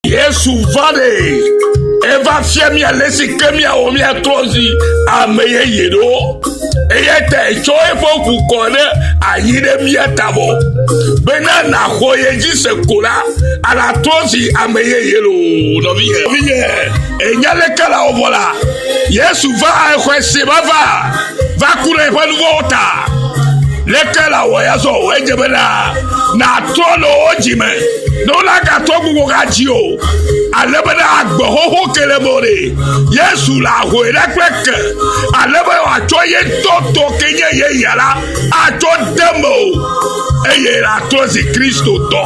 Yesu va ɖe eva fia mía le si ke míawɔ míatrɔ zi ame yeye ɖo eya ta etsɔ eƒe ŋu kɔ ɖe anyi ɖe mía tavɔ bena nàxɔ ye dzi se ko la anatrɔ zi ame yeye lo nɔvinyɛ nɔvinyɛ enya leke la wɔvɔ la yesu va exɔe se va va. va ku ɖe eƒe nu vɔ̃wo ta. Leke la wɔ ya zɔ o? Edze be na nàtrɔ le wo dzi me ne wonagatɔ gbogbo gadzi o. Ale be na agbe xoxo ke le me ɖe. Yesu le ahoe ɖe kple ke. Ale be wòatsɔ ye tɔtɔ ke nye ye ya la atsɔ de me o. Eye atrɔ zi Kristo tɔ.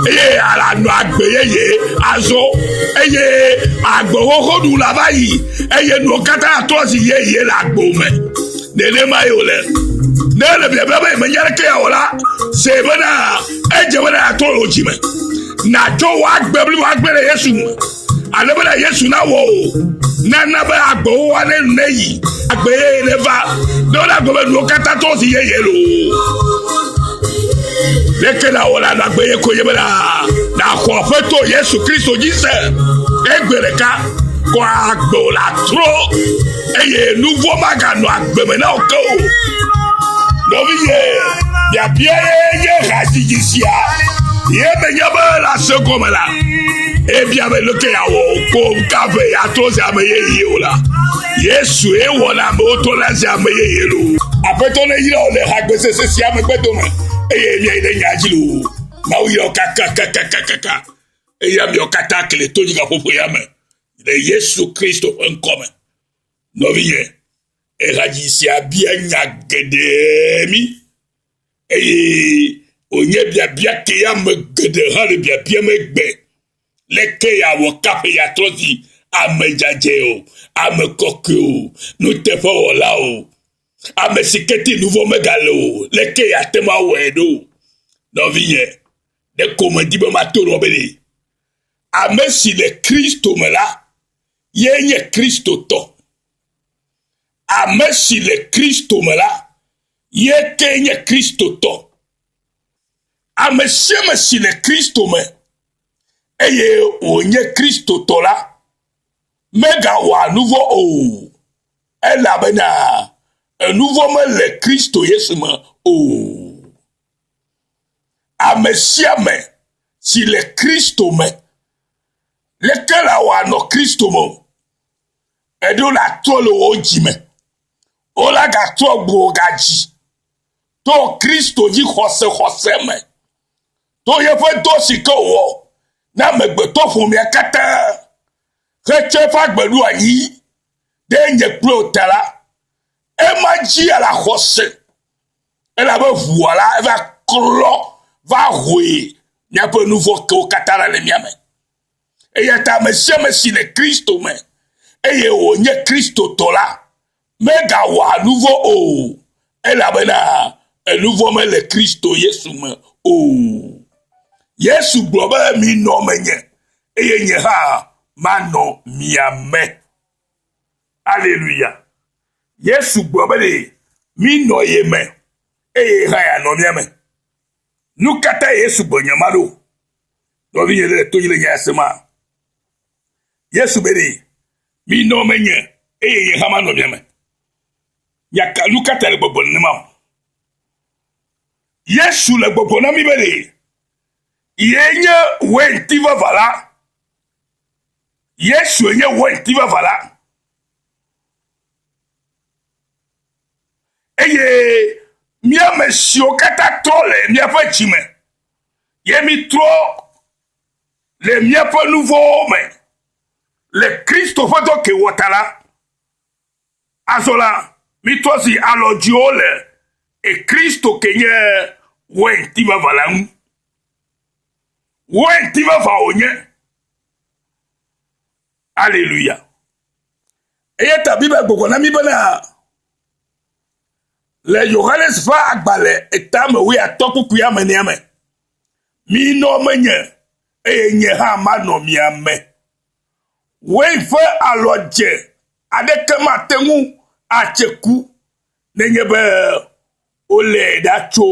Eye alanɔ agbe yeye azɔ. Eye agbe xoxo ɖu la va yi. eye nuwo katã atɔ zi yeye le agbo me nenema ye wòle ne ele biabia be menya ɖeke ya o la se bena edze bena atɔ le dzi me natsɔ wɔ agbe bli wɔ agbe le yesu me ale bena yesu nawɔ o nana be agbewo wa ne ne yi agbe yeye ne va ne wole agbe be nuwo katã tɔ zi yeye lo leke na wɔ la nɔ agbe ye ko ye bena naxɔ aƒetɔ yesu kristo dzi se egbe ɖeka kɔ agbe wò le atrɔ eye nu vɔ̃ maganɔ agbe me na wò ke o. Nɔviye, biabia ye hadzidzi sia ye menye be le ase gɔme la ebia be leke yeawɔ ko ka ʋe yeatrɔ zi ame yeye o la. Yesu ye wɔna amewo trɔna zi ame yeye loo. Aƒetɔ neyra wò le hagbesese sia megbe dome eye miayi ɖe nya dzi loo. Mawu yɔ kakakakakaka. Eya miɔ katã kle to nyika ƒoƒo ya me le Yesu Kristo ƒe ŋkɔ me. Nɔvinye, ehadzi sia bia nya geɖe mi eye wònye biabia ke ya me geɖe hã le biabia me gbe. Leke yeawɔ kaƒe yeatrɔ zi ame dzadzɛ o, ame kɔkɔe o, nuteƒewɔla o, ame si ke ti nuvɔ megale o, leke yeate ŋu awɔe ɖo? Nɔvinye, Ɖeko medi be mato lɔ be ɖe ame si le Kristo me la ye nye Kristo tɔ. Ame si le Kristo me la ye ke nye Kristo tɔ. Ame sia ame si le Kristo me eye wònye Kristo tɔ la megawɔa nuvɔ o elabena enuvɔ mele Kristo Yesu me o. Ame sia ame si le Kristo me. Leke la wòanɔ Kristo me o? Eɖo la trɔ le wò dzi me. Wo la gatrɔ gbo gadzi to Kristo dzi xɔse xɔse me. To yeƒe dɔ si ke wòwɔ na amegbetɔ ƒomea katã hetsɔ eƒe agbe ɖo anyi ɖe nye kple wò ta la, ema dzia la xɔse. Elabe ʋua la va klɔ va hoe míaƒe nu vɔ̃ kewo katã la le mía me. Eya ta ame sia ame si le Kristo me eye wònye Kristotɔ la megawɔa nu vɔ̃ o, elabena enu vɔ̃ mele Kristo Yesu me o. Yesu gblɔ be, Minɔ menye, eye nye hã manɔ mia me. Aleluya! Yesu gblɔ be ɖe mínɔ ye me eye ye hã yeanɔ mía me. Nu ka ta Yesu gblɔ nya ma ɖo? Nɔvinye ɖe le to le nya sema. Yesu be ɖe minɔ menye eye ye hã manɔ mia me. Nyaka nu ka ta le gbɔgblɔ nenema o? Yesu le gbɔgblɔ na mi be ɖe ye nye weinti vava la. Yesue nye wòɣiti vavã la. Eye míame siwo katã trɔ le míaƒe dzi me, ye mítrɔ le míaƒe nuvɔwo me le Kristo ƒe dɔ ke wɔ ta la, Azɔ la, mitrɔ zi alɔdziwo le Ekristo ke nye wɛnti vava la ŋu. Wɛnti vava wònye. Aleluya. Eya ta Biblia gbɔgblɔ na mi bena le Yohanes ƒe agbalẽ etame wuiatɔ̃ kpukpui amenea me, minɔ menye eye nye hã manɔ mia me. Wave ƒe alɔdze aɖeke mate ŋu atse ku nenye be wolée ɖa tso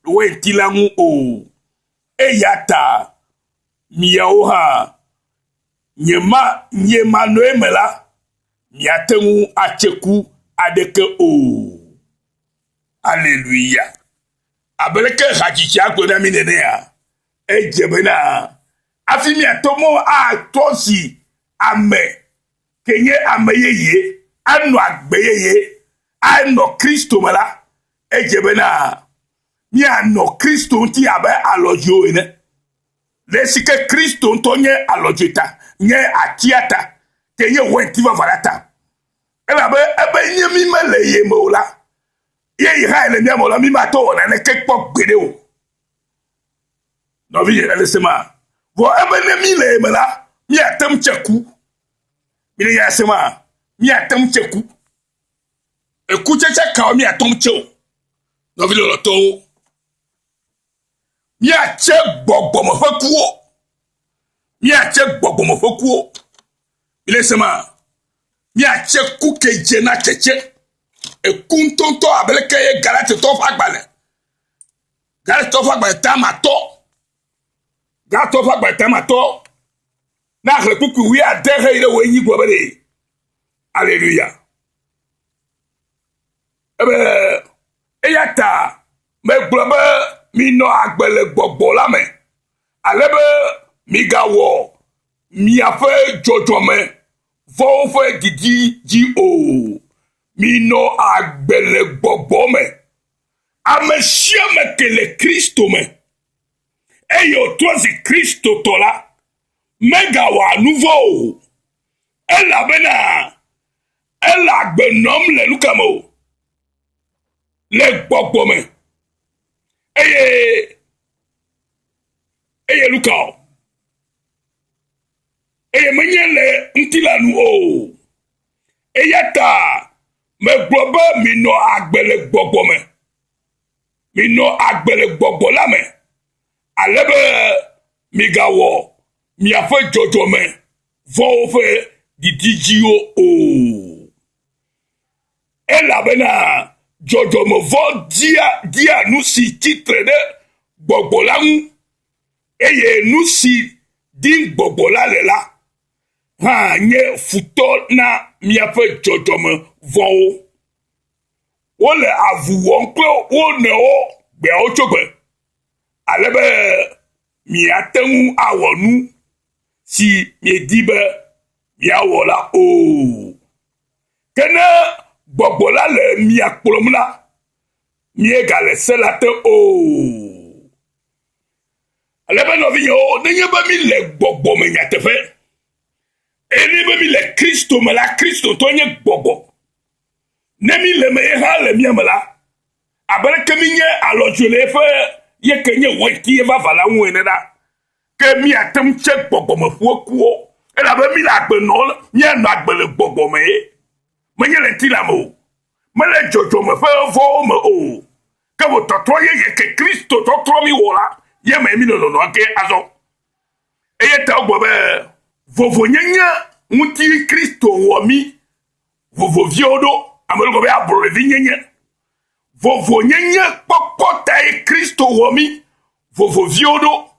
wainti la ŋu o. Eya ta miawo hã, nye ma, nye ma nɔe me la, miate ŋu atse ku aɖeke o. Aleluya. Abeleke hadzitsia gblɔ na mi nenea, edze bena Afi miato mɔ atɔ si ame ke nye ame yeye anɔ agbe yeye anɔ Kristo me la, edze bena mianɔ Kristo ŋuti abe alɔdzoe ene. Le esike Kristo ŋutɔ nye alɔdzoe ta, nye atia ta, ke nye wainti vavã la ta. Elabe ebe nye mi mele ye me o la, ye yi hãe le mía me o la, mi mate ŋu awɔ naneke kpɔ gbeɖe o. Nɔvinye ɖe le se ma. Vɔ ebe ne mí le ye me la, míate ŋu tse ku. Mi ɖe ya se ma. Míate ŋu tse ku. Ekutsetse kawo míate ŋu tse o. Nɔvi lɔlɔtɔwo. Míatse gbɔgbɔme ƒe kuwo. Míatse gbɔgbɔme ƒe kuwo. Mi ɖe se ma. Míatse ku kedze na tsetse. Eku ŋutɔŋutɔ abeleke ye Galatitɔwo ƒe agbalẽ Galatɔ ƒe agbalẽ tamatɔ. Galatɔ ƒe agbalẽ tamatɔ. Na xlẽ kpukpui wui ade xe yi ɖe wò enyi gɔme ɖe. Aleluya. Ebe eya ta megblɔ be minɔ agbe le gbɔgbɔ la me. Ale be migawɔ miaƒe dzɔdzɔme vɔwo ƒe didi dzi o. Minɔ agbe le gbɔgbɔ me. Ame sia ame ke le Kristo me, eye wòtrɔ zi Kristotɔ la, megawɔa nu vɔ̃ o, elabena ele agbe nɔm le nu ka me o? Le gbɔgbɔ me. Eye, eye nu ka o? Eye menye le ŋutilã nu o. Eya ta megblɔ be minɔ agbe le gbɔgbɔ me. Minɔ agbe le gbɔgbɔ la me. Ale be migawɔ miaƒe dzɔdzɔme vɔ̃wo ƒe didi dziwo o. Elabena dzɔdzɔme vɔ̃ dia, dia nu si tsi tre ɖe gbɔgbɔ la ŋu, eye nu si dim gbɔgbɔ la le la hã nye futɔ na miaƒe dzɔdzɔme vɔ̃wo. Wole avu wɔm kple wo nɔewo gbeawo tso gbe, ale be miate ŋu awɔ nu si miedi be miawɔ la o. Ke ne gbɔgbɔ la le mia kplɔm la, miegale se la te o. Ale be nɔvinyewo, nenye be mi le gbɔgbɔ me nyateƒe, eye ne be mi le Kristo me la, Kristo tɔ nye gbɔgbɔ. Ne mi le me ye hã le mia me la, abe ɖeke mi nye alɔdzɔe le eƒe ye ke nye wɔti ye vava la ŋu ene la, ke mi ate ŋu tse gbɔgbɔ me ƒu ekuwo, elabe mi le agbe nɔ mia nɔ agbe le gbɔgbɔ me ye, menye le ŋutilã me o, mele dzɔdzɔme ƒe vɔwo me o, Ke wò tɔtrɔ yeye ke Kristo tɔtrɔ mi wɔ la, ye me mi le lɔlɔ̃a ke azɔ. Eye ta wogblɔ be, vovonyenye ŋuti Kristo wɔ mi vovoviwo ɖo. Ame ɖe gblɔ be ablɔɖevi nyenye. Vovonyenye kpɔkpɔ tae Kristo wɔ mi vovoviwo ɖo.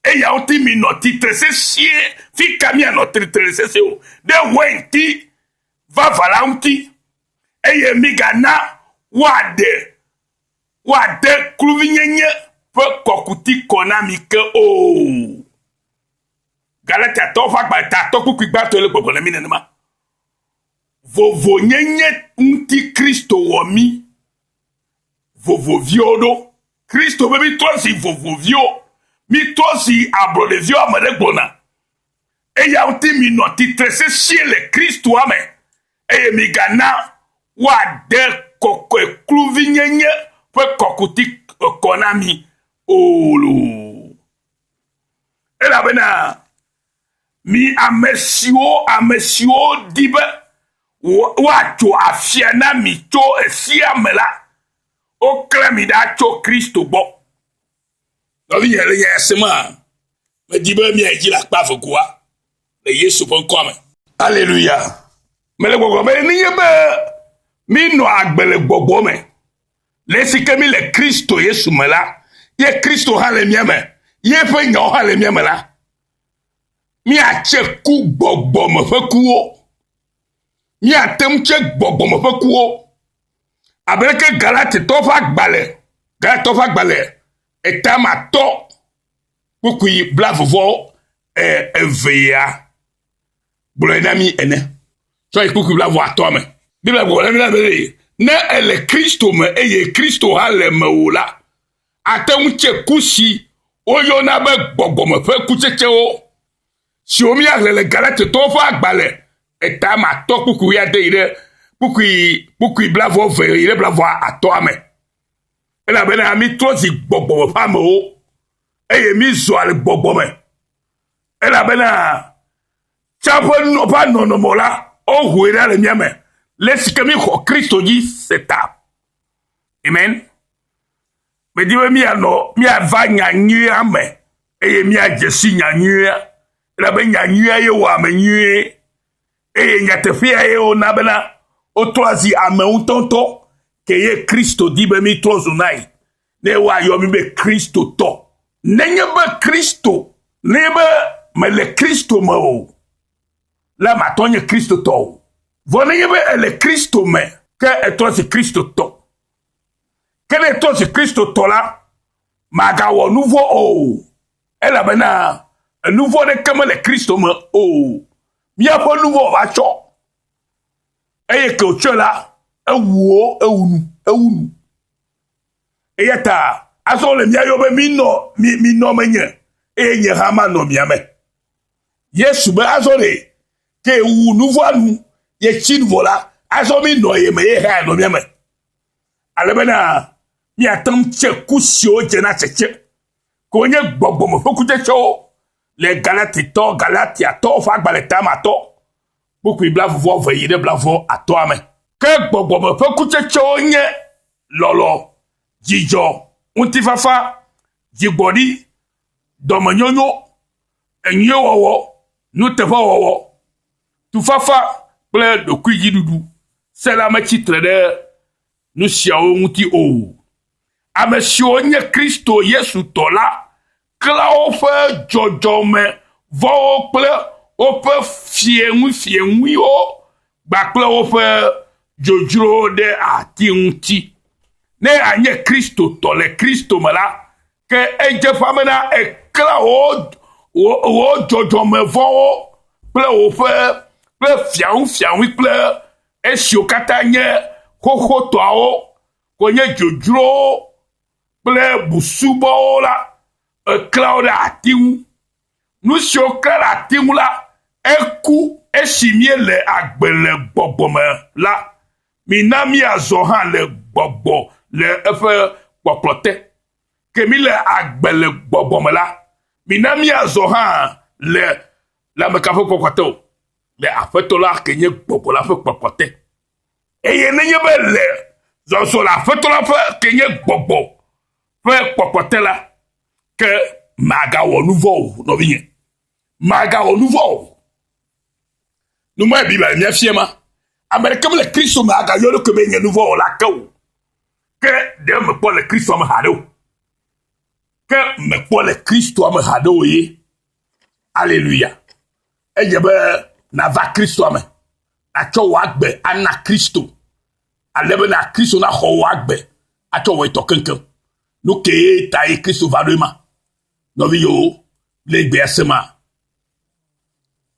Eya ŋuti mi nɔ titre sesĩe fi ka mi anɔ titre sesĩe o, ɖe wɛnti vavã la ŋuti. eye migana woaɖe woade kluvinyenye ƒe kɔkuti kɔ na mi ke o. Galatiatɔwo ƒe agba ta atɔ kpukpui gbãtɔe le gbɔgblɔ na mi nenema. Vovonyenye ŋuti Kristo wɔ mi vovoviwo ɖo. Kristo be mitrɔ zi vovoviwo, mitrɔ zi ablɔɖeviwo ame ɖe gblɔna. Eya ŋuti minɔ tsitre sesĩe le Kristoa me, eye migana woade kɔkɔe kluvinyenye ƒe kɔkuti kɔ na mi o loo. Elabena mi ame siwo, ame siwo di be woatso afia na mi tso esia me la, woklẽ mi ɖa tso Kristo gbɔ. Nɔvinye le nya sem hã. Medi be miayi dzi le akpa eve goa le Yesu ƒe ŋkɔa me. Aleluya! Mele gbɔgblɔm be nenye be míenɔ agbe le gbɔgbɔ me, le esi ke míle Kristo Yesu me la, ye Kristo hã le mía me, ye ƒe nyawo hã le mía me la, míatse ku gbɔgbɔme ƒe kuwo. Míate ŋu tse gbɔgbɔme ƒe kuwo. abe leke Galatitɔ ƒe agbalẽ, Galatitɔ ƒe agbalẽ etamatɔ kpukpui blavuvɔ evea gblɔe na mí ene. Tsɔ yi kpukpui blavu atɔa me. Biblia gblɔ na mí be ne èle Kristo me eye Kristo hã le mewò la, àte ŋu tse ku si woyɔna be gbɔgbɔme ƒe kutsetsewo. siwo míaxlẽ le Galatitɔwo ƒe agbalẽ eta ma tɔ kpukpui ade yi ɖe kpukpui kpukpui blavɔ eve yi ɖe blavɔ atɔa me. Elabena mítrɔ zi gbɔgbɔ me ƒe amewo, eye mízɔa le gbɔgbɔ me. Elabena tsã ƒe ƒe nɔnɔme la, wohoe ɖa le mía me, le si ke míxɔ Kristo dzi se ta. Amen. Medi be míanɔ míava nya nyuia me. eye míadze si nya nyuia, elabe nya nyuia ye wɔ ame nyuie, eye nyateƒea ye wona bena wotrɔa zi ame ŋutɔŋutɔ, ke ye Kristo di be mítrɔ zu nae, ne woayɔ mí be Kristotɔ. Nenye be Kristo, nenye be mele Kristo me o, la matɔ nye Kristotɔ o. Vɔ nenye be ele Kristo me, ke etrɔ zi Kristotɔ. Ke ne etrɔ zi Kristotɔ la, magawɔ nu vɔ̃ o, elabena enu vɔ̃ aɖeke mele Kristo me o. Míaƒe nu vɔ̃ va tsɔ, eye ke wòtsɔe la, ewuwo, ewu nu, ewu nu. Eya ta azɔ le mía yɔ be minɔ, mi, minɔ menye, eye nye hã manɔ mia me. Yesu be azɔ ɖe, ke wu nu vɔ̃a nu, yetsi nu vɔ la, azɔ minɔ ye me, ye hã nɔ mía me. Ale bena míate ŋu tse ku siwo dzena tsetse, ke wonye gbɔgbɔ me ƒe kutsetsewo le Galatitɔ, Galatiatɔ ƒe agbalẽ tamatɔ, kpukpui blaeve-vɔ-eve yi ɖe blaeve-vɔ-atɔa me. Ke gbɔgbɔ me ƒe kutsetsewo nye lɔlɔ, dzidzɔ, ŋutifafa, dzigbɔɖi, dɔmenyonyo, enyuiwɔwɔ, nuteƒewɔwɔ. Tufafa kple ɖokuidziɖuɖu se la metsi tre ɖe nu siawo ŋuti o. Ame siwo nye Kristo Yesu tɔ la klã woƒe dzɔdzɔme vɔ̃wo kple woƒe fieŋuifieŋuiwo gba kple woƒe dzodzrowo ɖe ati ŋuti. Ne ànye Kristotɔ le Kristo me la, Ke edze ƒã bena èklã wò wò dzɔdzɔmevɔ̃wo kple woƒe kple fiaŋufiaŋui kple esiwo katã nye xoxotɔawo wònye dzodzrowo kple busubɔwo la, èklã wo ɖe ati ŋu. Nu si woklã ɖe ati ŋu la, eku esi míele agbe le gbɔgbɔ me la, Mina míazɔ hã le gbɔgbɔ le eƒe kpɔkplɔ te. Ke míle agbe le gbɔgbɔ me la, mina míazɔ hã le lãmeka ƒe kpɔkplɔ te o, le Aƒetɔ la ke nye gbɔgbɔ la ƒe kpɔkplɔ te. Eye nenye be le zɔzɔ le Aƒetɔ la ƒe ke nye gbɔgbɔ ƒe kpɔkplɔ te la, ke màgawɔ nu vɔ̃ o, nɔvinye, màgawɔ nu vɔ̃ o. Nu ma Biblia le mía fia ma, ame ɖeke mele Kristo me agayɔ eɖokui be nye nu vɔ̃ wɔla ke o. Ke ɖe mekpɔ le Kristo me haɖe o. Ke mekpɔ le Kristo me haɖe o ye. Aleluya. Edze be nàva Kristo me. Nàtsɔ wò agbe ana Kristo. Ale bena Kristo naxɔ wò agbe atsɔ wɔ etɔ keŋkeŋ. Nu kee tae Kristo va ɖoe ma. Nɔvi yewo le gbea se ma.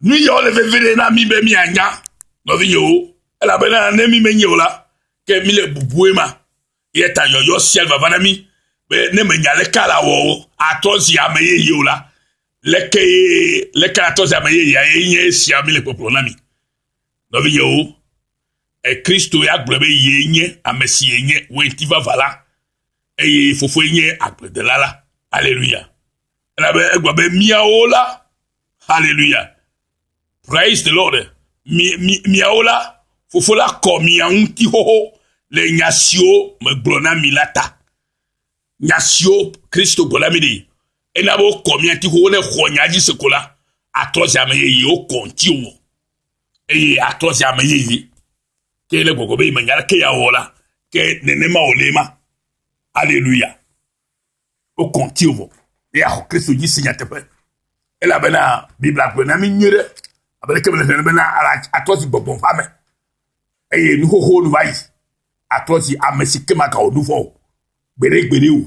Nu yawo le veviɖe na mí be míanya, nɔvinyewo, elabena ne mí menyae o la, ke míle bubue ma. Eya ta yɔyɔ sia le vava na mí be ne mènya leke ale awɔ atrɔ zi ame yeye o la, leke leke atrɔ zi ame yeyea ye nye esia míle kpɔkplɔ na mi. Nɔvinyewo, Kristo ya gblɔ be yee nye ame si yenye weinti vavã la eye Fofoe nye agbledela la. Aleluya! Elabe egblɔ be, Miawo la, haleluya, praise the Lord, miawo la, Fofo la kɔ mia ŋuti xoxo le nya siwo megblɔ na mi la ta. Nya siwo Kristo gblɔ na mi ɖi, ena be wokɔ mia ŋuti xoxo ne xɔ nya dzi se ko la, atrɔ zi ame yeye, wokɔ ŋuti wɔ, eye atrɔ zi ame yeye. Ke le gbɔgbɔ be menya ke ya wɔ la, ke nenema wòle ma. Haleluya. Wokɔ ŋuti wò be yeaxɔ Kristo dzi si nyateƒe. Elabena Biblia gblɔe na mi nyuie ɖe, abe ɖeke mele hlẽ bena atrɔ si gbɔgbɔ ƒe ame, eye nu xoxo nu va yi, atrɔ si ame si ke maga wò nu vɔ̃ o, gbeɖegbeɖe o,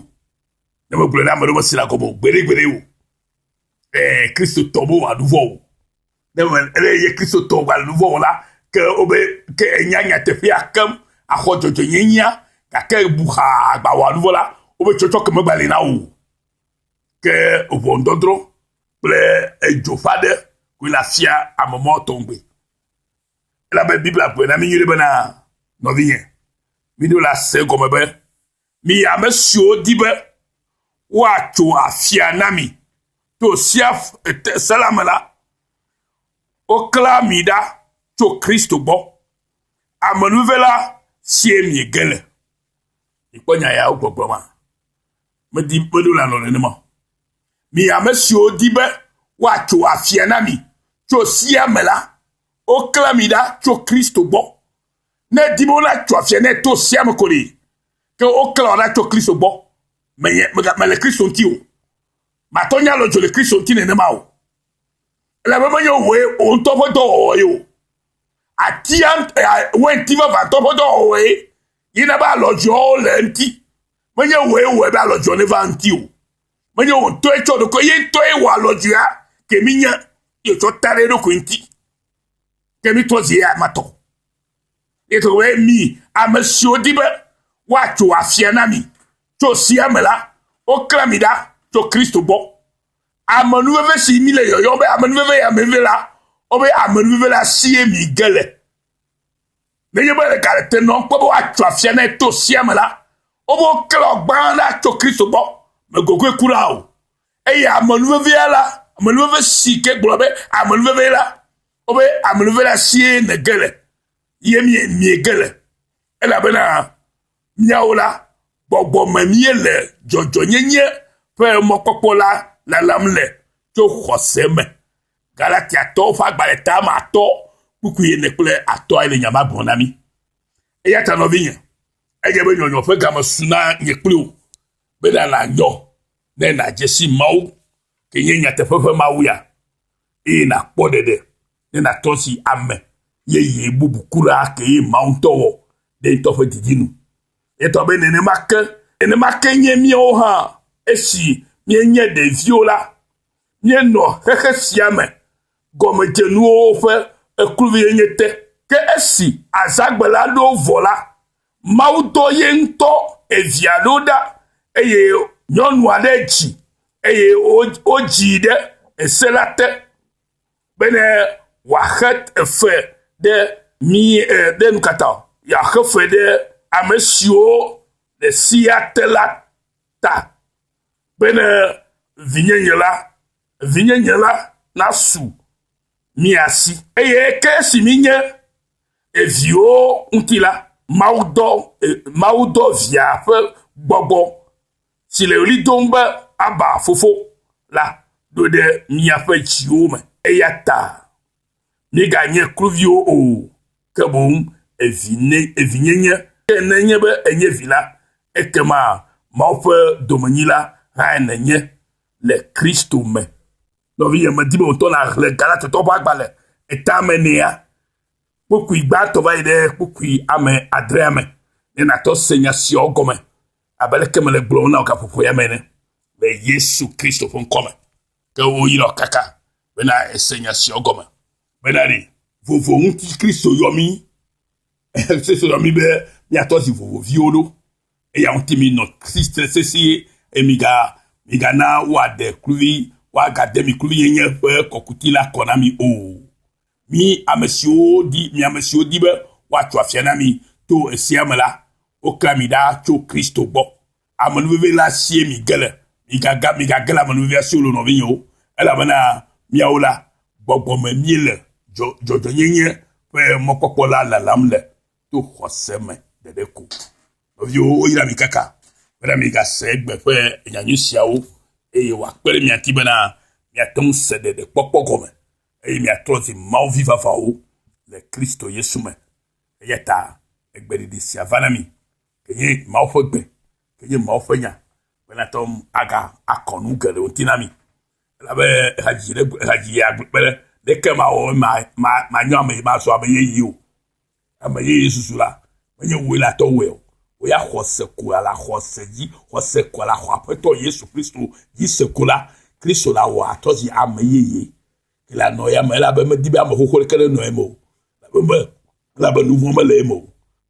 ne megblɔe na ame ɖe mesi la gɔme o, gbeɖegbeɖe o. Ɛɛ, Kristo tɔ mewɔa nu vɔ̃ o. Ne ele ye Kristotɔ wògale nu vɔ̃ wɔla ke o be ke enya nyateƒea keŋ axɔ dzɔdzɔenyenyea gake bu xaa agbawɔ nu vɔ̃ la, wobe tsɔtsɔke megbali na wò o. Ke ʋɔnudɔdrɔ̃ kple edzo ƒe aɖe koe le afia ame mɔ tɔŋgbe. Elabe Biblia gblɔe na mí nyuie bena, Nɔvinye, miɖo la se egɔme be, Mi ame siwo di be woatso afia na mi to sea se la me la, woklẽa mi ɖa tso Kristo gbɔ, amenuve la sie miege le. Mikpɔ nya yawo gbɔgblɔ ma. Medi meɖo le alɔ nenema o. Mi ame siwo di be woatso afia na mi tso sea me la, woklẽa mi ɖa tso Kristo gbɔ, Ne edi be wona tso afia ne to sia me ko ɖi. Ke wokle wɔ na tso Kristo gbɔ. Menye mega mele Kristo ŋuti o. Matɔ nya lɔ dzo le Kristo ŋuti nenema o. Ele be menye wòe wò ŋutɔ ƒe dɔwɔwɔ ye o. Atia wɛnti vavãtɔ ƒe dɔwɔwɔ ye yi na be alɔ dzo le ŋuti. Menye wòe wɔe be alɔ dzo ne va ŋuti o. Menye wò ŋutɔe tsɔ ɖokui ye ŋutɔe wɔ alɔ dzoa ke minye yetsɔ ta ɖe eɖokui ŋuti. ke mi tɔ zi ame tɔ ye to we mi ame siwo di be woatso afia na mi tso sia me la wokla mi ɖa tso kristo gbɔ amenuveve si mi le yɔyɔ be amenuveve ya menuveve la wobe amenuveve la sie mi ge le nenye be ɖeka le te nɔm kpe be woatso afia na to sia me la wobe woklɔ gbã la tso kristo gbɔ megogoe kura o Eye amenuvevea la, amenuveve si ke gblɔ be amenuveve la, wobe amenuveve la sie nège le, ye mie miege le, elabena míawo la, gbɔgbɔ me míele dzɔdzɔnyenye ƒe mɔkpɔkpɔ la lalam le tso xɔse me. Galatiatɔwo ƒe agbalẽ tame atɔ kpukpui ene kple atɔae le nya ma gblɔm na mí. Eya ta nɔvinye, edze be nyɔnyɔ ƒe game su na nye kpli wò, be nàna nyɔ ne nàdze si Mawu ke nye nyateƒe ƒe Mawu ya, eye nàkpɔ ɖeɖe ne nàtɔ si ame yeye bubu kura kee Mawu ŋutɔ wɔ ɖe ŋutɔ ƒe didi nu. Etɔ be nenema ke, nenema ke nye míawo hã. Esi míenye ɖeviwo la, míenɔ xexe sia me gɔmedzenuwo ƒe ekluvi enye te. Ke esi azãgbe la ɖo vɔ la, Mawu dɔ ye ŋutɔ evia ɖo ɖa eye nyɔnu aɖe dzi eye wodzi ɖe ese la te bene wòaxe efe ɖe mi e ɖe nu ka ta o yeaxe fe ɖe ame siwo le sea te la ta bene vinyenye la vinyenye la nasu mia si. Eye ke si minye eviwo ŋuti la, Mawu dɔ, e, Mawu dɔ via ƒe gbɔgbɔ si le ɣli dom be Aba fofo la ɖo ɖe miaƒe dziwo me. Eya ta miganye kluviwo o, ke boŋ evinye, evinyenye. Ke ne nye be enye vi la, ekema Mawu ƒe domenyila hãe nenye le Kristo me. Nɔvinye, medi be wòtɔ nàxlẽ Galatotɔwo ƒe agbalẽ etea me nɛa? Kpukpui gbãtɔ va yi ɖe kpukpui ame adrea me ne nàtɔ se nya siawo gɔme, abe aleke mele gblɔm na wò gaƒoƒo ya me ene, le Yesu Kristo ƒe ŋkɔ me. Ke woyra wò kaka bena èse nya siawo gɔme. Bena ɖe vovo ŋuti Kristo yɔ mí, Kristo yɔ mí be míatɔ zi vovoviwo ɖo. Eya ŋuti minɔ tsitre sesĩe, eye miga, migana woaɖe kluvi, woagade mi kluvinyenye ƒe kɔkuti la kɔ na mi o. Mi ame siwo di, mi ame siwo di be woatso afia na mi to esia me la, woklã mi ɖa tso Kristo gbɔ. Amenuveve la sie mige le. Migaga, migage le amenuvevea si o, nɔvinyewo, elabena miawo la, gbɔgbɔ me miele, dzɔ, dzɔdzɔenyenye ƒe mɔkpɔkpɔ la lalam le. to xɔse me ɖeɖe ko. Nɔviwo, woyra mi kaka bena migase egbe ƒe nyanyui siawo eye wòakpe ɖe mia ŋuti bena miate ŋu se ɖeɖekpɔkpɔ gɔme eye miatrɔ zi Mawu vi vavãwo le Kristo Yesu me. Eya ta egbeɖeɖi sia va na mi kenye Mawu ƒe gbe, kenye Mawu ƒe nya bena ate ŋu aga akɔ nu geɖewo ŋuti na mi. Elabe ehadzi ɖe ehadzi agbe kpe ɖe ɖeke ma wɔ ma ma ma nyɔ ame mazɔ ame yeye o. Ame yeye susu la, menye wòe la tɔwɔe o. Wò ya xɔse ko la le xɔse dzi, xɔse ko la xɔ Aƒetɔ Yesu Kristo dzi se ko la, Kristo la wɔ atrɔ zi ame yeye. Ke la nɔ ya me elabe medi be ame xoxo ɖeke nenɔ eme o, elabe me, elabe nuvɔ mele eme o.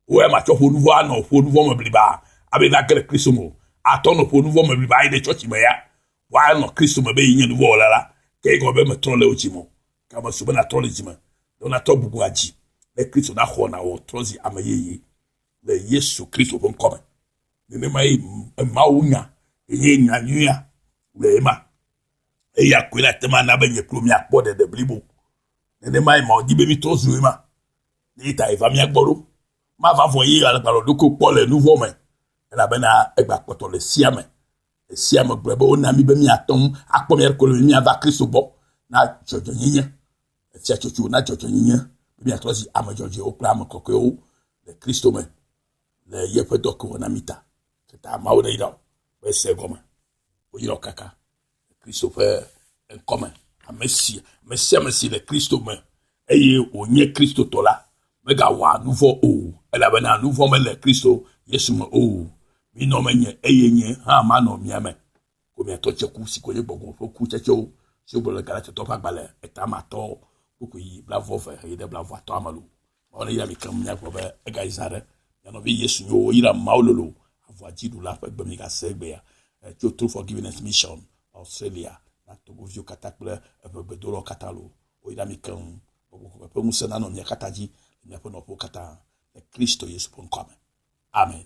Wò ya matsɔ ƒo nuvɔ anɔ ƒo nuvɔ me bliba, abe yi nage ɖe Kristo me o. Atɔ nɔ ƒo nuvɔ me bliba ayi ɖe tsɔtsi me ya, woanɔ Kristo me be yi nye nuvɔwɔla la, ke egɔme be metrɔ le wò dzi me o. Ke ame si be natrɔ le dzi me, ne natrɔ bubua dzi ɖe Kristo naxɔ na wò trɔ zi ame yeye le Yesu Kristo ƒe ŋkɔ me. Nenema ye Mawu nya enye nya nyuia wòle ema. Eya koe na tema na be nye kple miakpɔ ɖeɖe blibo. Nenema ye Mawu di be mitrɔ zu ema. Ye ta va mia gbɔ ɖo. Mava vɔ ye alagbalɔ ɖokui kpɔ le nuvɔ me elabena egbakpɔtɔ le sia me Esia megblɔ be wona mí be míate ŋu akpɔ mía ɖokui be míava Kristo gbɔ na dzɔdzɔenyenye. Efia tsotso na dzɔdzɔenyenye be míatrɔ zi ame dzɔdzɔewo kple ame kɔkɔewo le Kristo me le yeƒe dɔ ke wɔna mí ta. Teta Mawu ne yrao ƒe se gɔme. Woyrao kaka Kristo ƒe ŋkɔ me. Ame si, ame sia ame si le Kristo me eye wònye Kristotɔ la, megawɔa nu vɔ̃ o, elabena nu vɔ̃ mele Kristo Yesu me o. Minɔ menye, eye nye hã manɔ mia me. Ko miatɔ tseku si ko nye gbɔgbɔ ƒe kutsetsewo, si wogblɔ le Galatitɔ ƒe agbalẽ eta ma tɔ kpukpui blaeve heyi ɖe blaeveatɔa me loo. Mawu neyra mi keŋ miagblɔ be, Egayi zã ɖe! Mia nɔvi Yesu nyo woyra Mawu lolo avɔa dziɖula ƒe gbe migasee egbea. Tso True Forgiveness Mission, Australia, na Togoviwo katã kple eƒe gbedolawo katã loo. Woyra mi keŋ be ƒuƒoƒe ƒe ŋusẽ nanɔ mia katã dzi le miaƒe nɔƒewo katã le Kristo Yesu ƒe ŋkɔa me. Amen.